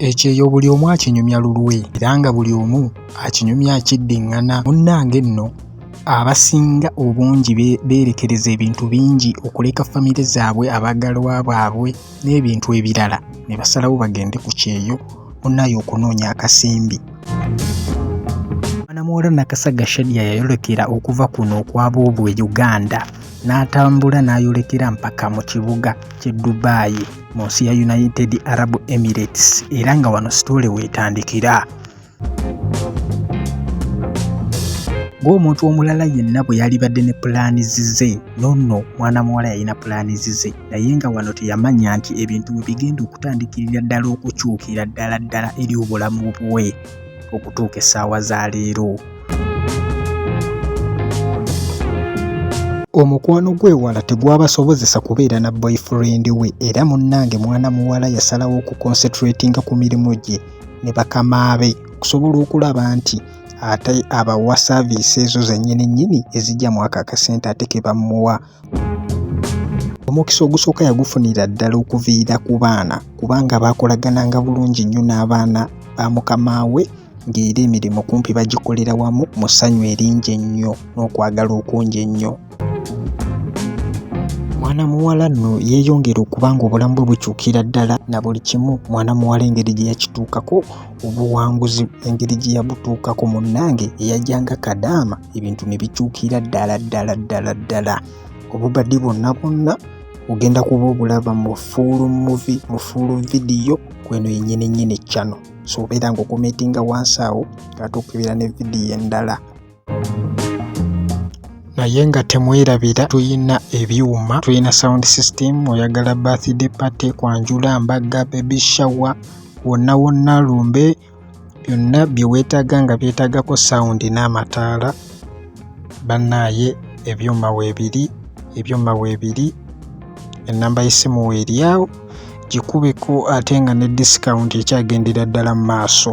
ekyeyo buli omu akinyumya lulwe era nga buli omu akinyumya akiddiŋŋana munnange nno abasinga obungi beerekereza ebintu bingi okuleka famire zaabwe abaagalwa baabwe n'ebintu ebirala ne basalawo bagende ku kyeyo munaye okunoonya akasimbi mwanamuwala nakasaga shadia yayolekera okuva kuno okwaba obwe uganda n'atambula n'ayolekera mpaka mu kibuga kye dubai mu nsi ya united arab emirates era nga wano sitole weetandikira ng'omuntu omulala yenna bwe yalibadde ne pulaani zize nonno mwana muwala yalina pulaani zize naye nga wano teyamanya nti ebintu bwe bigenda okutandikirira ddala okukyukira ddala ddala eri obulamu bwe okutuuka essaawa za leero omukwano gw'ewala tegwabasobozesa kubeera na boyfriend we era munnange mwana muwala yasalawo okuconcentratinga ku mirimu gye ne bakama be okusobola okulaba nti ate abawa saaviisi ezo zennyini nnyini ezijja mu ako akasente ate ke bamuwa omukisa ogusooka yagufunira ddala okuviira ku baana kubanga baakolagananga bulungi nnyo n'abaana ba mukama we ng'era emirimu kumpi bagikolera wamu mu ssanyu eringi ennyo n'okwagala okungi ennyo mwana muwala nno yeeyongera okuba ng'obulamu bwe bukyukira ddala na buli kimu mwana muwala engeri gye yakituukako obuwanguzi engeri gye yabutuukako munnange eyajjanga kadaama ebintu ne bikyukira ddala ddala ddala ddala obubadi bwonna bwonna ogenda kuba obulaba mu fuulu muvi mu fuulu vidiyo kweno yennyini nnyini cano so obeera ng'okometinga wansi awo ate okukebera ne vidiyo endala naye nga temwerabira tulina ebyuma tulina sound system oyagala birthday party kwanjula mbagga baby shower wonna wonna lumbe byonna bye weetaaga nga byetaagako sound n'amataala bannaaye ebyuma weebiri ebyuma weebiri ennamba y'essimu weeryawo gikubeko ate nga ne discount ekyagendera ddala mu maaso